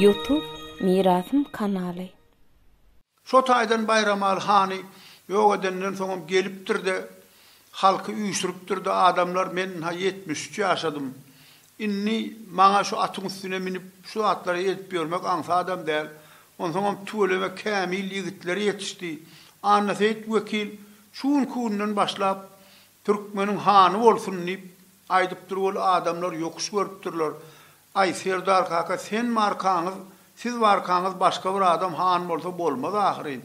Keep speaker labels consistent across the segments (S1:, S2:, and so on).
S1: Youtube Mirasym kanaly.
S2: Şo taýdan Baýramaly hany ýok edenden soňam gelipdir-de, halky üýşüripdir-de, adamlar, men-ha ýetmiş üç ýaşadym, Indi maňa şu atyň üstüne münüp, şu zatlary edip ýörmek aňsadam däl. Onsoňam tüweleme kämil ýigitler ýetişdi. Annaseýit wekil şu günki günden başlap, Türkmeniň hany bolsun! diýip aýdypdyr weli, adamlar ýokuş görüpdirler. Aý, serdar kaka, sen barkaňyz, siz barkaňyz başga bir adam han bolsa bolmaz ahyryn!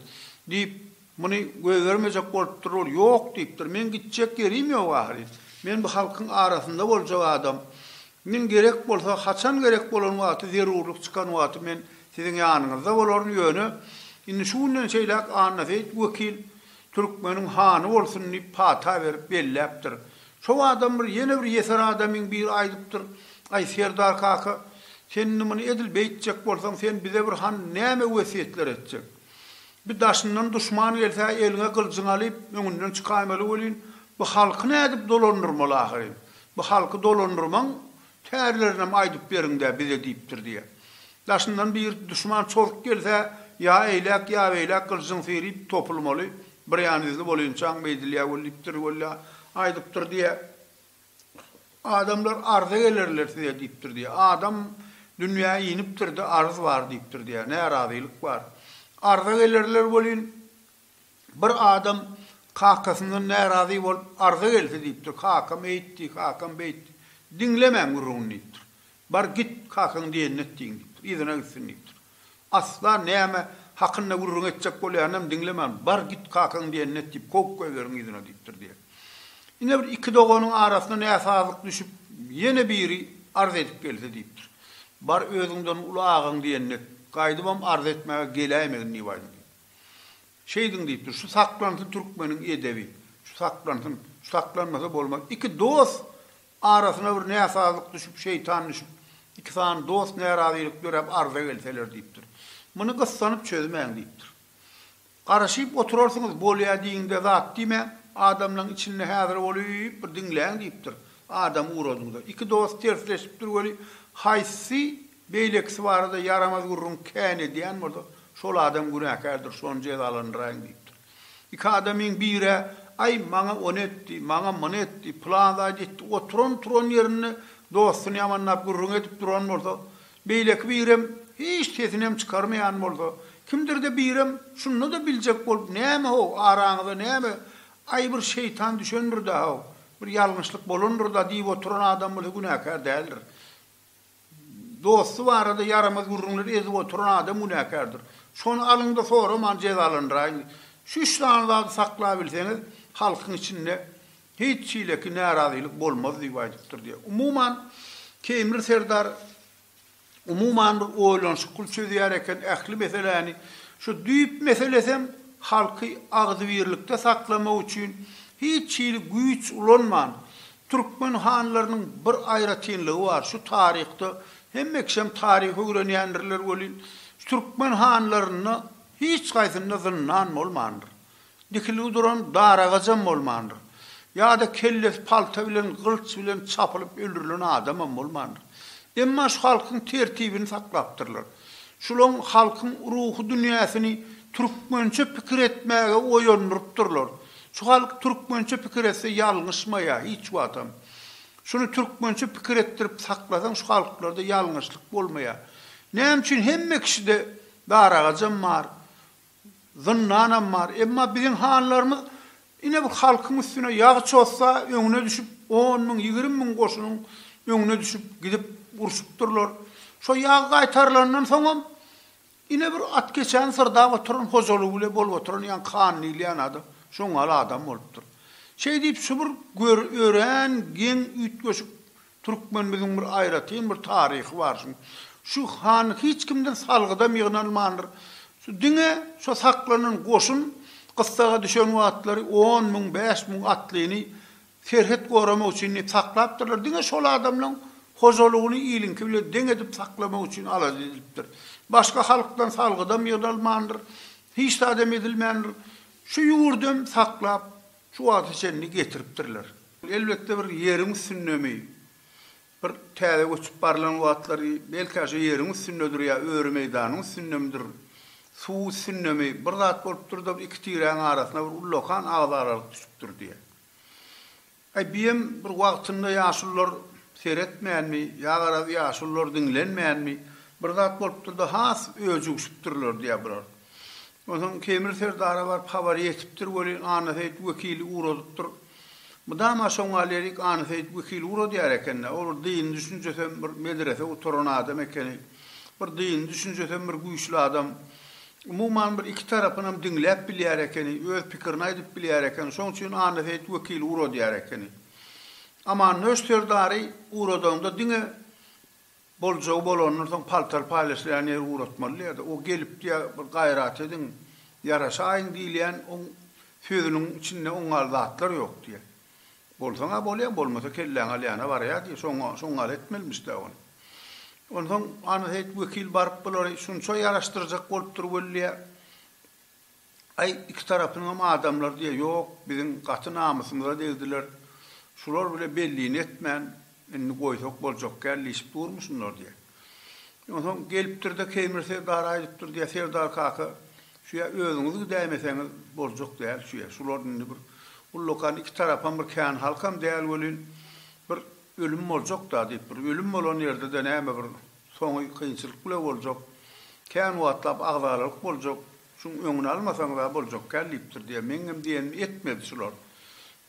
S2: diýip, Muny goýbermejek bolupdyr, ol ýok diýipdir. Meň gitjek ýerim ýok ahyryn. Men bu halkyň arasynda boljak adam. Min gerek bolsa, haçan gerek bolan wagty, zerurlyk çykan wagty men siziň ýanyňyzda bolaryn, ýöne indi şu günden şeýläk Annaseýit wekil türkmeniň hany bolsun diýip pata berip belläpdir. Şo adam bir ýene bir ýeser adamyň biri aýdypdyr, Aý, serdar kaka, sen indi muny edil beýtjek bolsaň, sen bize bir han näme wesýetler etjek? Bi daşyndan duşman gelse eliňe gylyjyňy alyp öňünden çykaýmaly welin bu halky nädip dolandyrmaly ahyryn. Bu halky dolandyrmaň tärlerinem aýdyp beriňdä bize diýipdir diýýä. Daşyndan bir duşman çozuk gelse ýa eýläk ýa beýläk gylyjyň syryp topulmaly, birýan izli bolynçaň beýdilýä welipdir wella aýdypdyr diýýä. Adamlar arza gelerler size diýipdir diýýär. Adam dünýä inipdir-de, arz bar diýipdir diýýär. Närazylyk bar. Arza gelerler welin, bir adam kakasyndan närazy bolup arza gelse diýipdir, Kakam eýtdi, kakam beýtdi. Diňlemäň gürrüňini diýipdir. Bar git, kakaň diýenini et diýiň diýipdir. Yzyna gitsin diýipdir. Asla näme hakynda gürrüň etjek bolýanynam diňlemän, Bar git, kakaň diýenini et diýip, kowup goýberiň yzyna diýipdir diýen. Ine bir iki doganyň arasyna näsazlyk düşüp, ýene biri arz edip gelse diýipdir. Bar özüňden uly agaň diýenini et, gaýdybam arz etmäge geläýmegin diýip aýdyň diýip. Şeýdiň diýipdir. Şu saklansyn türkmeniň edebi. Şu saklansyn. Şu saklanmasa bolmaz. Iki dost Arasyna bir näsazlyk düşüp, şeýtan düşüp, iki sany dost närazylyk döräp arza gelseler diýipdir. Muny gyssanyp çözmäň diýipdir. Garaşyp oturarsyňyz, bolýa diýiňde zat diýmäň, adamlaň içinde häzir bolyp bir diňläň diýipdir. Adam ugradyňda, iki dost tersleşipdir weli, haýsy beýlekisi barada ýaramaz gürrüň kän edýän bolsa, şol adam günäkärdir, şony jezalandyraýyň diýipdir. Iki adamyň bir-ä, Aý, maňa ony etdi, maňa muny etdi, pylan zady etdi, oturan-turan ýerinde dostuny ýamanlap gürrüň edip duran bolsa, beýleki birem, hiç sesinem çykarmaýan bolsa, kimdir-de birem, şunda-da biljek bolup, Näme-how, araňyza näme, aý, bir şeýtan düşendir-dä-how, bir ýalňyşlyk bolandyr-da diýip oturan adam bolsa günäkär däldir. Dosty barada ýaramaz gürrüňleri ezip oturan adam günäkärdir. Şony alyňda soraman jezalandyraýyň. Şu üç sany zady saklabilseňiz, halkyň içinde hiç hileki närazylyk bolmaz diýip aýdypdyr diýýär. Umuman, Keýmir serdar umuman bir oýlanyşykly çözýär eken ähli meseläni. Şu düýp meselesem halky agzybirlikde saklamak üçin hiç hili güýç ulanman, Türkmen hanlarynyň bir aýratynlygy bar, şu taryhda, hemme kişem taryh öwrenýändirler welin, türkmen hanlarynda hiç haýsynda zyndan bolmandyr. Dikilgi duran daragajam bolmandyr. Ýa-da kellesi palta bilen, gylç bilen çapylyp öldürilen adamam bolmandyr. Emma şu halkyň tertibini saklapdyrlar. Şulaň halkyň ruhy dünýäsini türkmençe pikir etmäge oýandyrypdyrlar. Şu halk türkmençe pikir etse ýalňyşmaýa hiç wagtam. Şuny türkmençe pikir etdirip saklasaň şu halklarda ýalňyşlyk bolmaýa. Näme üçin hemme kişide daragajam bar, zyndanam bar. Emma biziň hanlarymyz ine bir halkyň üstüne ýag çozsa öňüne düşüp on müň, ýigrimi müň goşunyň öňüne düşüp gidip urşupdyrlar. Şo ýag gaýtarylandan soňam Ine bir at keçäni syrdap oturan hojalygy bile bolup oturan ýaňky han diýilýän adam şoň ýaly adam bolupdyr. Şeý diýip şu bir göri örän geň üýtgeşik türkmenimiziň bir aýratyn bir taryhy bar şuň. Şu han hiç kimden salgydam ýygnalmandyr. Şu diňe şo saklanan goşun gyssaga düşen wagtlary on müň, bäş müň atlyny Serhet goramak üçin diýip saklapdyrlar, diňe şol adamlaň hojalygyny iliňki bilen deň edip saklamak üçin alada edilipdir. Başga halkdan salgydam ýygnalmandyr, hiç zadam edilmändir. Şu ýurdam saklap şu wagta çenli getiripdirler. Elbetde bir ýeriň üstündemi? Bir täze göçüp barlan wagtlary belkä şo ýeriň üstündedir ýa öri meýdanyň üstündemidir, suw üstündemi bir zat bolupdyr-da iki tiräň arasyna bir ullakan agyz aralyk düşüpdir diýýär. Aý biem bir wagtynda ýaşulylar seretmänmi ýa garaz ýaşulylar diňlenmänmi bir zat bolupdyr-da has öjügişipdirler diýýär bular. Onsoň Kemir serdara baryp habary ýetipdir welin Annaseýit wekili ugradypdyr. Mydama şoňa lirik anyseýit wekil uradýar eken-dä, ol bir dyny düşünjesem bir medrese gutaran adam ekeni, bir dyny düşünjesem bir güýçli adam, umuman bir iki tarapynam diňläp bilýär ekeni, öz pikirini aýdyp bilýär eken, şoň üçin anyseýit wekil uradýar ekeni. Amannöş serdary uradaňda diňe Boljagy bolandan soň paltar paýlaşylýan ýeri ugratmaly diýýärdi. O gelip diýýär, bir gaýrat ediň, ýaraşaýyň diýilýän oň sözüniň içinde oň ýaly zatlar ýok diýýär. Bolsaň-a bolýar, bolmasa kelläňi alýana barýar diýýär. Şoňa, şoň ýaly etmelimiş-dä ony. Onsoň Annaseýit wekil baryp bulary şunça ýaraşdyrjak bolupdyr weli diýýär. Aý, iki tarapyňam adamlar diýýä, ýok, biziň gaty namysymyza degdiler, şular bile bellini etmän, indi goýsak boljak kän diýşip durmy şunlar diýýä. Onsoň gelipdir-de, Keýmir serdara aýdypdyr diýýä, Serdar kaka, şu ýa özüňiz gidäýmeseňiz boljak däl şu ýer, şular indi bir ullakan iki tarapam bir kän halkam däl welin, bir ölüm boljak-da diýip, bir ölüm bolan ýerde-de näme bir soňy kynçylyk bile boljak, kän wagtlap agzalalyk boljak, Şuň öňüni almasaňyzam boljakkäl diýipdir diýýär. Meňňem diýenimi etmedi şular.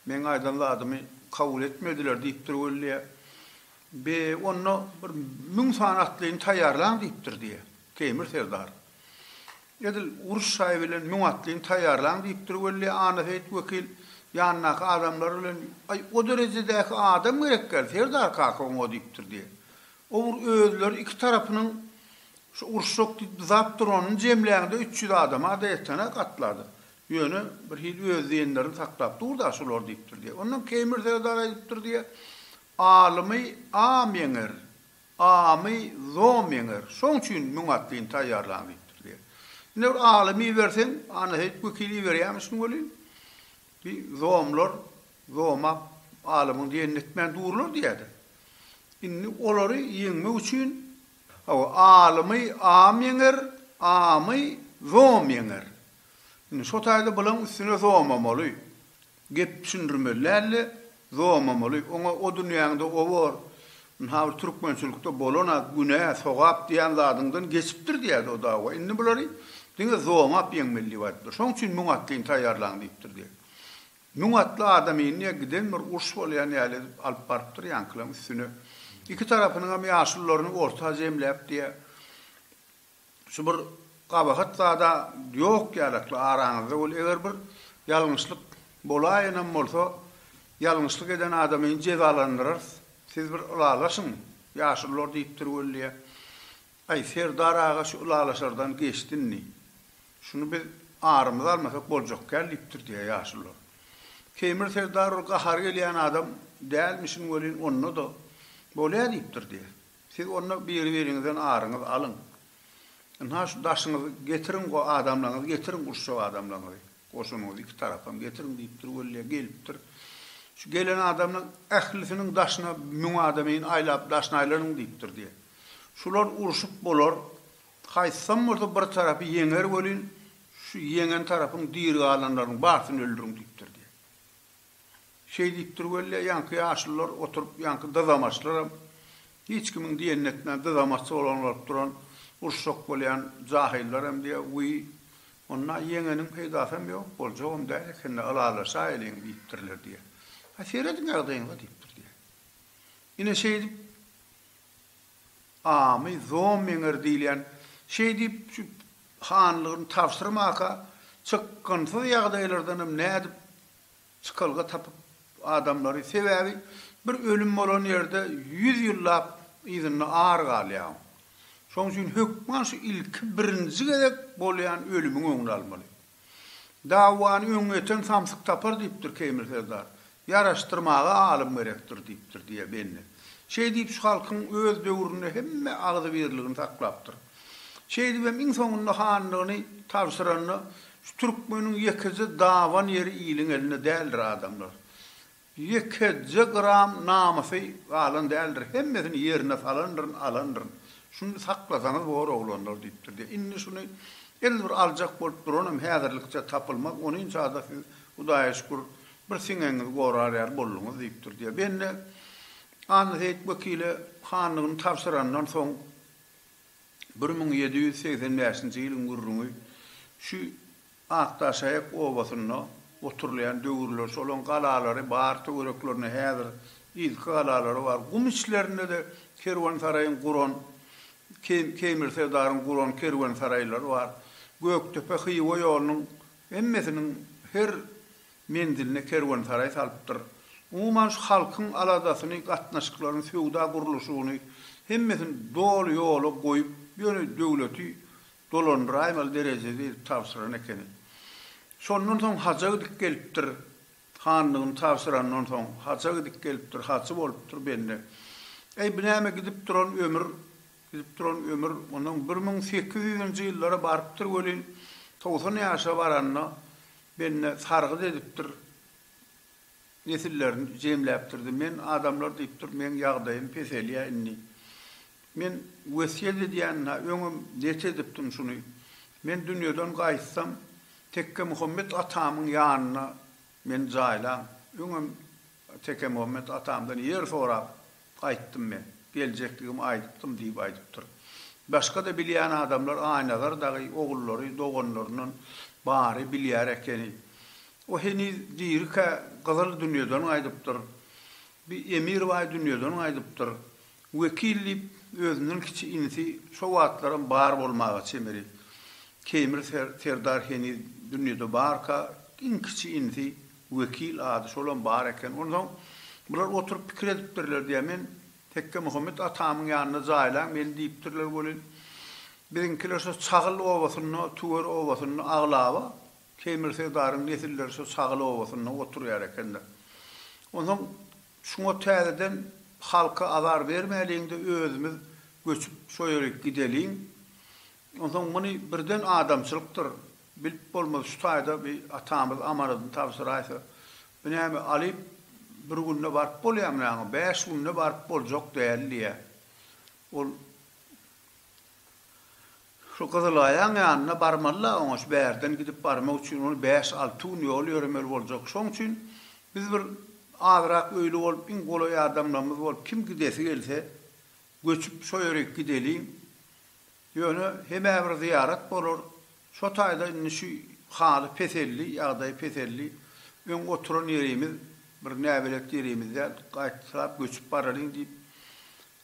S2: Meň aýdan zadymy kabul etmediler diýipdir wellä. Be, onda bir müň sany atlyny taýýarlaň diýipdir diýýär. Teýmir serdar. Edil uruş şaýy bilen müň atlyny taýýarlaň diýipdir wellä, Annaseýit wekil ýanyndaky adamlary bilen, Aý, o derejedäki adam gerekkäl, serdar kaka oňa diýipdir diýýär. O bir özleri iki tarapynyň Şu uruşjak diýip zat duranyny jemläňde üç ýüz adama-da ýetene gatlady. Ýöne bir hili öz diýenlerini saklap dur-da şular diýipdir diýýär. Ondan Keýmir serdar aýdypdyr diýýär, Alymy am ýeňer, amy zom ýeňer, şoň üçin müň atlyny taýýarlaň diýipdir diýýär. Ine bir alymy iberseň, Annaseýit wekili iberýärmişin welin, bi zomlar zomap alymyň diýenini etmän durlar diýýär-de. Indi olary ýeňmek üçin Hawa, alymy am ýeňer, amy zom ýeňer. Indi şo taýda bulaň üstüne zomamaly. Gep düşündirmeli däldi, zomamaly. Oňa o dünýäňde o bor. Indi ha bir türkmençilikde bolan-a, günä, sogap diýen zadyňdan geçipdir diýýärdi o dawa. Indi bulary diňe zomap ýeňmeli diýip aýdypdyr. Şoň üçin müň at geýin taýýarlaň diýipdir diýýär. Müň atly adam indi giden bir uruş bolýan ýaly edip alyp barypdyr ýaňkylaň üstüne. Iki tarapynyňam ýaşulularyny orta jemläp diýä, Şu bir gabahat zada ýok ýalakly araňyzda bol, eger bir ýalňyşlyk bolaýanam bolsa, ýalňyşlyk eden adamyny jezalandyrarys, siz bir ylalaşyň, ýaşulular diýipdir welliä. Aý, Serdar aga şu ylalaşardan geçdi indi. Şuny biz arymyza almasak boljak kän diýipdir diýýär ýaşulylar. Keýmir serdar ol gahary gelýän adam dälmişin welin onda-da bolýa diýipdir diýýär. Siz onda biri-biriňizden aryňyzy alyň. Ynha şu daşyňyzy getiriň go adamlaňyzy getiriň uruşjak adamlaňyzy. Goşunyňyzy iki tarapam getiriň diýipdir weli gelipdir. Şu gelen adamlaň ählisiniň daşyna müň adameýin aýlap daşyny aýlanyň diýipdir diýýär. Şular urşup bolar, haýsam bolsa bir tarapy ýeňer welin, şu ýeňen tarapyň diri galanlarynyň barsyny öldüriň diýipdir diýýär. Şeý diýipdir weli, ýaňky ýaşulylar oturyp, ýaňky dyzamaçlaram, hiç kimiň diýenini etmän, dyzamaçsy bolan bolup duran, uruşjak bolýan jahyllaram diýýär, wiý, onda ýeňeniň peýdasam ýok, boljagam däl eken-le, ylalaşaýeliň diýipdirler diýýär. Ha, serediň ýagdaýyňyza diýipdir diýýär. Ine, şeýdip, Amy, Zom Meňer diýilýän, şeý diýip, şu hanlygyny tabşyrmaka, çykgynsyz ýagdaýlardanam nädip çykalga tapyp adamlary, sebäbi bir ölüm bolan ýerde ýüz ýyllap yzynda ar galýaň. Şoň üçin hökman şu ilki birinji gezek bolýan ölümiň öňüni almaly. Dawany öňňeten samsyk tapar diýipdir Keýmil serdar. Ýaraşdyrmaga alym gerekdir diýipdir, diýýär Bende. Şeý diýip şu halkyň öz döwründe hemme agzybirligini saklapdyr. Şeýdibem iň soňunda hanlygyny tabşyranda şu türkmeniň ýekeje dawan ýeri iliň elinde däldir adamlar. Ýekeje gram namysy galan däldir, hemmesini ýerine salandyryn, alandyryn. Şuny saklasaňyz bor, oglanlar, diýipdir. Diýe, indi şuny elbir aljak bolup duranam häzirlikçe tapylmaz, onynça-da siz, Hudaýa şükür, bir siňegiňizi gorar ýaly bolduňyz, diýipdir. Diýe, bende Annaseýit wekile hanlygyny tabşyrandan soň, Bir müň ýedi ýüz segsen bäşinji ýylyň gürrüňi şu Akdaşaýak obasynda oturylýan döwürler şolaň galalary bar töwereklerinde häzir yzky galalary bar gum içlerinde-de kerwensaraýyň guran Keýmir serdaryň guran kerwensaraýlary bar Gökdepe Hywa ýolunyň hemmesiniň her menziline kerwensaraý salypdyr. Umuman şu halkyň aladasyny, gatnaşyklaryny, söwda gurluşygyny hemmesini doly ýola goýup, ýöne döwleti dolandyraýmaly derejede edip tabşyran ekeni. Şondan soň haja gidip gelipdir. Hanlygyny tabşyrandan soň haja gidip gelipdir, hajy bolupdyr bende. Äý, bu näme gidip duran ömür, gidip duran ömür. Onsoň bir müň sekiz ýüzünji ýyllara barypdyr welin, togsan ýaşa baranda Bende sargyt edipdir, nesillerini jemläpdirdi. Men adamlar diýipdir, meň ýagdaýym peselýär indi. Men wesýet edýän-hä, öňem net edipdim şuny. Men dünýeden gaýtsam, Tekgemuhammet atamyň ýanyna meni jaýlaň. Öňem Tekemuhammet atamdan ýer sorap, Gaýtdym men. Geljekligimi aýdypdym, diýip aýdypdyr. Başga-da bilýän adamlar Aýnazar dagy, ogullary, doganlaryndan bary bilýär ekeni. O heniz dirikä Gyzyl dünýeden gaýdypdyr. Bi Emirbaý dünýeden gaýdypdyr. Wekil diýip, özünden kiçi inisi şo wagtlaram bar bolmaga çemeli. Keýmir serdar heniz dünýede barka, iň kiçi inisi. Wekil, ady şolam bar eken. Onsoň bular oturyp pikir edipdirler diýýär. Men Tekgemuhammet atamyň ýanynda jaýlaň meni diýipdirler welin, biziňkiler şo Çagyl obasynda, Tüwer obasynda aglaba Keýmir serdaryň nesilleri şo Çagyl obasynda oturýar ekenler. Onsoň şuňa täzeden halka azar bermäliň-de, özümiz göçüp şo ýere gideliň. Onsoň muny birden adamçylykdyr bilip bolmaz şu taýda bi atamyz amanadyny tabşyraýsa bi näme alyp bir günde baryp bolýamy näme bäş günde baryp boljak däl diýýä ol şu gyzylaýaň ýanyna barmaly la oňa şu bärden gidip barmak üçin ony bäş alty gün ýol ýöremeli boljak şoň üçin biz bir azyrak öýli bolup iň golaý adamlarymyz bolup kim gidesi gelse göçüp şo ýörik gideliň Ýöne hemä bir zyýarat bolar. Şo taýda indi şu haly peseldi, ýagdaý peseldi. Öň oturan ýerimiz bir näbelet ýerimiz däl, gaýtalap göçüp baralyň diýip,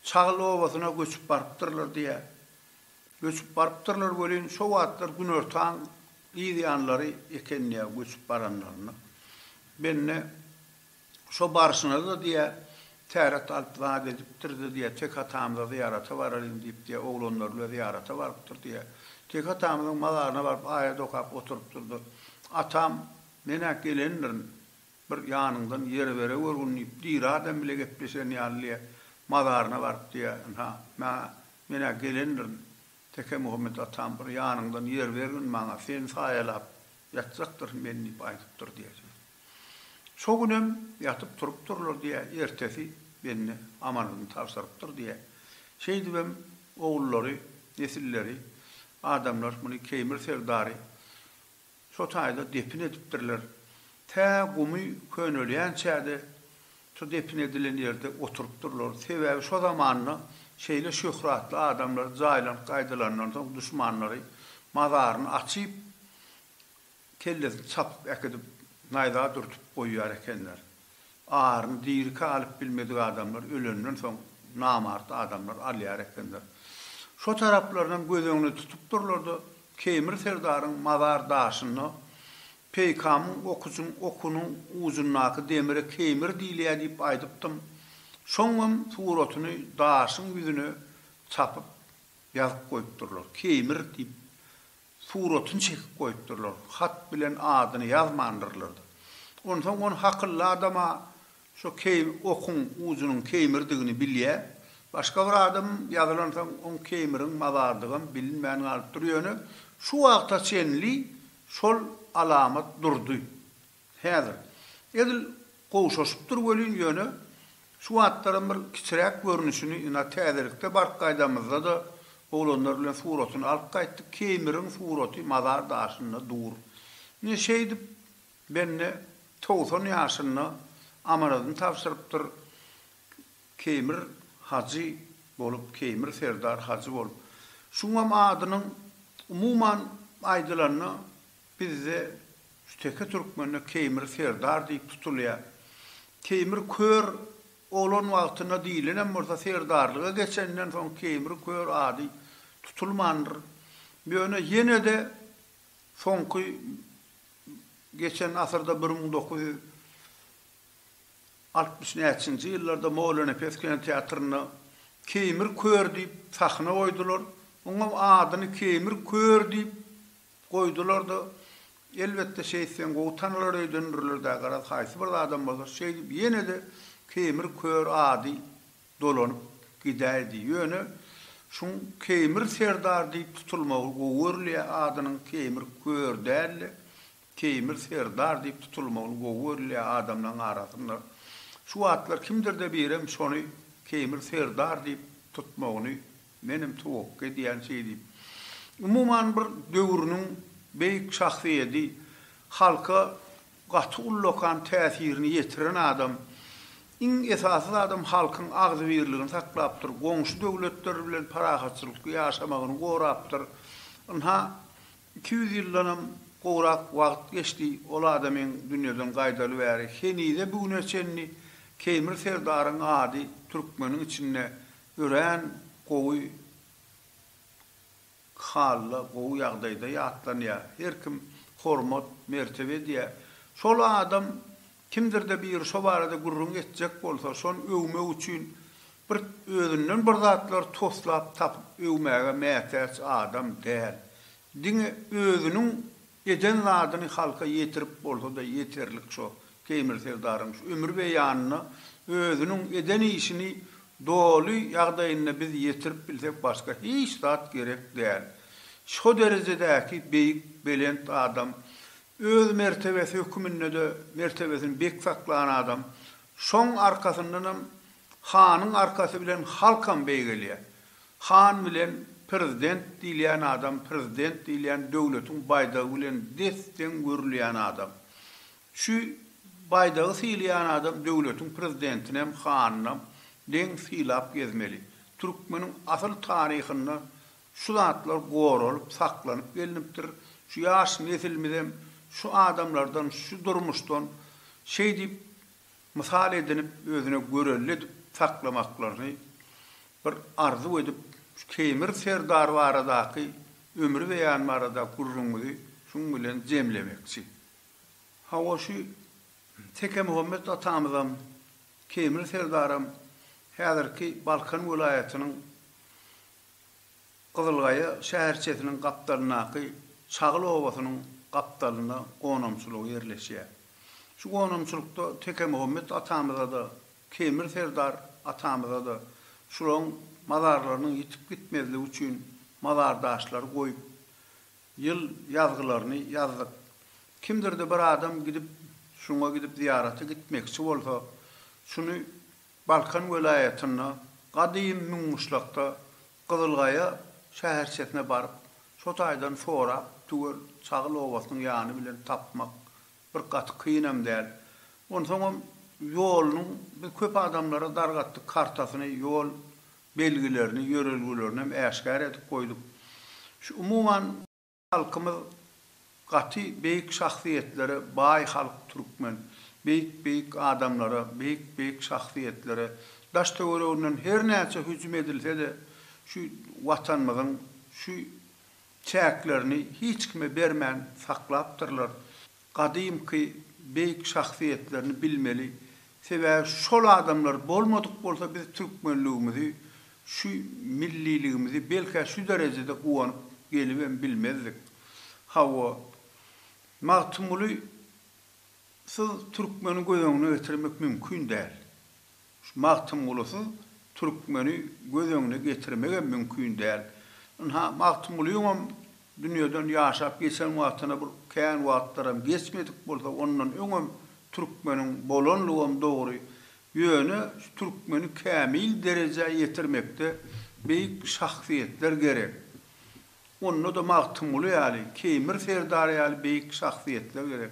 S2: Çagyl obasyna göçüp barypdyrlar diýýär. Göçüp barypdyrlar welin, şo wagtlar günortan gyz ýanlary eken diýýär göçüp baranlarynda. Mende. Şo barşyňyzda diýä, täret alyp zat edipdirdi diýä, tek atamyza zyýarata baralyň diýip diýä, oglanlary bilen zyýarata barypdyr diýä. Tek atamyzyň mazaryna baryp aýat okap oturypdyr-da, Atam, men-ä gelendirin, bir ýanyňdan ýer bereweriň diýip, diri adam bile gepleşen ýaly diýä, mazaryna baryp diýä, Ynha, maňa, men-ä gelendirin, Tekemuhammet atam, bir ýanyňdan ýer bergin maňa, seni saýalap ýatjakdyryn men diýip aýdypdyr diýä. Şo günem ýatyp turupdyrlar diýä, ertesi bende amalyny tabşyrypdyr diýä. Şeýdibem ogullary, nesilleri, adamlar muny Keýmir serdary şo taýda depin edipdirler. Tä gumy könelýänçä-de şo depin edilen ýerde oturypdyrlar. Sebäbi şo zamanda şeýle şöhratly adamlar jaýlanyp gaýdylandan soň duşmanlary mazaryny açyp, Kellesini çapyp äkidip naýza dürtüp goýýar ekenler. Aryny diriki alyp bilmedik adamlar ölenden soň namart adamlar alýar ekenler. Şo taraplarynam göz öňüne tutupdyrlar-da, Keýmir serdaryň mazar daşyna peýkamyň okuçyň okunyň ujundaky demire Keýmir diýilýär diýip aýdypdym. Şoňam suratyny daşyň ýüzüne çapyp ýazyp goýupdyrlar. Keýmir diýip Suratyny çekip goýupdyrlar. Hat bilen adyny ýazmandyrlar-da. Onsoň ony hakylly adama şo keým, okuň ujunyň keýmirdigini bilýär. Başga bir adam ýazylansoň oň keýmiriň mazardygam bilinmän galypdyr. Ýöne şu wagta çenli şol alamat durdy. Häzir, edil gowşaşypdyr welin, ýöne şu wagtlaram bir kiçiräk görnüşini, ynha, täzelikde baryp gaýdanymyzda-da, oglanlar bilen suratyny alyp gaýtdyk, Keýmiriň suraty mazar daşynda dur. Ine, şeýdip, bende togsan ýaşynda amanadyny tabşyrypdyr, Keýmir hajy bolup, Keýmir serdar hajy bolup. Şuňam adynyň, umuman aýdylanda, Bizde şu teke türkmende Keýmir serdar diýip tutulýar. Keýmir kör oglan wagtynda diýilenem bolsa serdarlyga geçenden soň Keýmir kör ady tutulmandyr. Ýöne ýene-de soňky geçen asyrda bir müň dokuz ýüz altmyş näçinji ýyllarda Molanepes kinoteatrynda Keýmir kör diýip sahna goýdular. Oňam adyny Keýmir kör diýip Goýdular-da, elbetde, şeýtseň gowy tanalar öýdendirler-dä, garaz, haýsy bir zadam bolsa, şeýdip ýene-de Keýmir kör ady dolanyp gidäýdi. Ýöne şuň Keýmir serdar diýip tutulmagy gowy görülýä, adynyň Keýmir kör däl-de, Keýmir serdar diýip tutulmagyny gowy görülýä adamlaryň arasynda. Şu wagtlar kimdir-de birem şony Keýmir serdar diýip tutmagyny Menem towakga edýän şeý diýip. Umuman bir döwrüniň beýik şahsyýedi, halka gaty ullakan täsirini ýetiren adam. Iň esasy zadam halkyň agzybirligini saklapdyr, goňşy döwletler bilen parahatçylykly ýaşamagyny gorapdyr. Ynha, iki ýüz ýyldanam gowrak wagt geçdi, ol adamyň dünýeden gaýdaly bäri henize bu güne çenli Keýmir serdaryň ady türkmeniň içinde Örän gowy halda gowy ýagdaýda ýatlanýar. Her kim hormat, mertebe edýär. Şol adam kimdir-de biri şo barada gürrüň etjek bolsa, şony öwmek üçin bir özünden bir zatlar toslap tapyp öwmäge mätäç adam däl. Diňe özüniň Eden zadyny halka ýetirip bolsada ýeterlik şo Teýmir serdaryň şu ömür beýanyna özüniň eden işini doly ýagdaýynda biz ýetirip bilsek başga hiç zat gerek däl. Şo derejedäki beýik belent adam öz mertebesi hökümindede mertebesini bek saklan adam şoň arkasyndanam hanyň arkasy bilen halkam beýgelýär. Han bilen prezident diýilýän adam prezident diýilýän döwletiň baýdagy bilen des-deň görülýän adam. Şu baýdagy sylaýan adam döwletiň prezidentinem hanynam deň sylap gezmeli. Türkmeniň asyl taryhynda şu zatlar goralyp saklanyp gelnipdir. Şu ýaş nesilmizem şu adamlardan şu durmuşdan şeýdip Mysal edinip özüne görelde edip saklamaklaryny bir arzuw edip şu Keýmir serdar baradaky ömri beýan barada gürrüňmizi şuň bilen jemlemekçi. Hawa şu Tekemuhammet atamyzam, Keýmir serdaram häzirki Balkan welaýatynyň Gyzylgaýa şäherçesiniň gapdalyndaky Çagyl obasynyň gapdalynda gonamçylygy ýerleşýär. Şu gonamçylykda Tekemuhammet atamyza-da, Kemir serdar atamyza-da şularyň mazarlarynyň ýitip gitmezligi üçin mazar daşlary goýup, ýyl ýazgylaryny ýazdyk. Kimdir-de bir adam gidip, şuňa gidip zyýarata gitmekçi bolsa, şuny Balkan welaýatynda, gadym Müňguşlakda Gyzylgaýa şäherçesine baryp, şo taýdan sorap, tüwel Çagyl obasynyň ýany bilen tapmak bir gaty kynam däl. Onsoňam ýolunyň, biz köp adamlara dargatdyk kartasyny, ýol belgilerini, ýörelgelerini hem äşgär edip goýduk. Şu umuman. Halkymyz gaty beýik şahsyýetlere baý halk türkmen. Beýik beýik adamlara, beýik beýik şahsyýetlere daş töwereginden her näçe hüjüm edilsede şu watanymyzyň şu çäklerini hiç kime bermän saklapdyrlar. Gadymky beýik şahsyýetlerini bilmeli, sebäbi şol adamlar bolmadyk bolsa biz türkmenligimizi, şu milliligimizi belkä şu derejede guwanyp gelibem bilmezdik. Hawa, Magtymguly syz türkmeni göz öňüne getirmek mümkin däl. Şu Magtymgulusyz türkmeni göz öňüne getirmegem mümkin däl. Ynha, Magtymgulyňam dünýeden ýaşap geçen wagtyna bir kän wagtlaram geçmedik bolsa, ondan öňem türkmeniň bolanlygam dogry. Ýöne şu türkmeni kämil derejä ýetirmekde beýik şahsyýetler gerek. Onda-da Magtymguly ýaly, Keýmir serdary ýaly beýik şahsyýetler gerek.